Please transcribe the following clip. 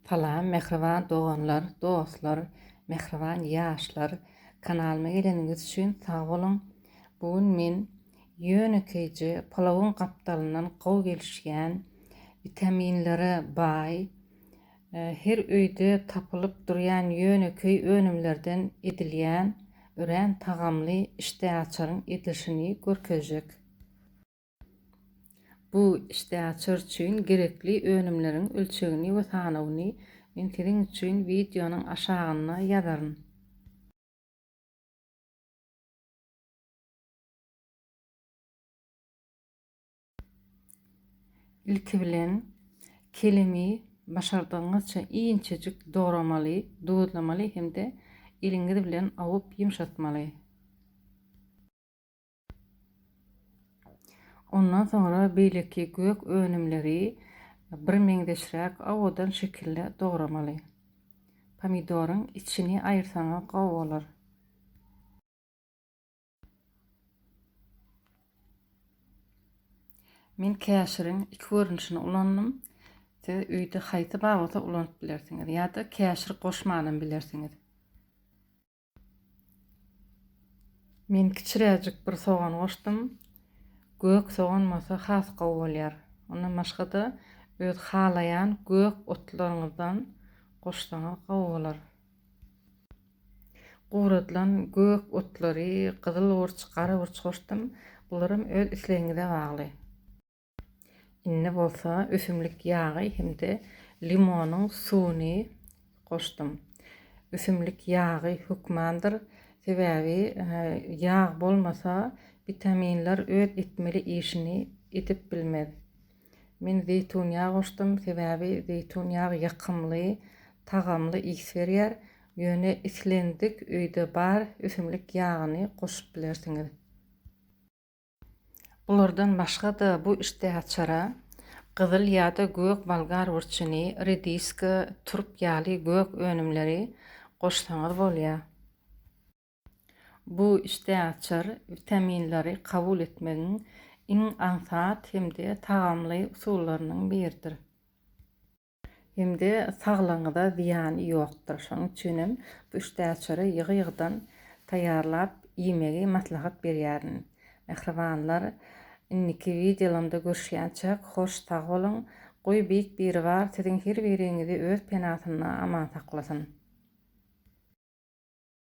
Salam mähriban doganlar dostlar mähriban ýaşlar kanalyma geleniňiz üçin sag boluň bu gün men ýönekeýje palawyň gapdalyndan gowy gelişýän witaminlere baý her öýde tapylyp durýan ýönekeý önümlerden edilýän örän tagamly işdäaçaryň edilişini görkezjek. Bu işdäaçar üçin gerekli önümleriň ölçegini we sanawyny men siziň üçin wideonyň aşagynda ýazaryn. Ilki bilen, kelemi başardygyňyzça inçejik dogramaly, duzlamaly hem-de eliňiz bilen awup ýumşatmaly. Ondan soňra beýleki gök önümleri birmeňzeşräk owadan şekilde dogramaly. Pomidoryň içini aýyrsaňyz gowy bolar. Men käşiriň iki görnüşini ulandym. Siz öýde haýsy bar bolsa ulanyp bilersiňiz ýa-da käşir goşmanam bilersiňiz. Men kiçiräjik bir sogan goşdum. Gök sogan bolsa has gowy bolýar. Ondan başga-da öz halaýan gök otlaryňyzdan goşsaňyz gowy bolar. Guradylan gök otlary, gyzyl burç, gara burç goşdum. Bularam öz islegiňize bagly. Indi bolsa ösümlik ýagy hem-de limonyň suwuny goşdum. Ösümlik ýagy hökmandyr, sebäbi ýag bolmasa witaminler öz etmeli işini edip bilmez. Men zeýtun ýagy goşdum, sebäbi zeýtun ýagy ýakymly, tagamly ys berýär. Ýöne islendik öýde bar ösümlik ýagyny goşup bilersiňiz. Bulardan başga-da bu işdäaçara gyzyl ýa-da gök bolgar burçuny, rediska, turp ýaly gök önümleri goşsaňyz bolýar. Bu işdäaçar witaminleri kabul etmegiň iň aňsat hem-de tagamly usullarynyň biridir. Hem-de saglygyňyza zyýany ýokdur. Şonuň üçin hem bu üç täçiri ýygy-ýygydan taýýarlap iýmegi maslahat berýärin. Mähribanlar, indiki wideolamda görüşýänçäk, hoş sag boluň! Goý Beýik Biribar siziň her biriňizi öz penasynda aman saklasyn!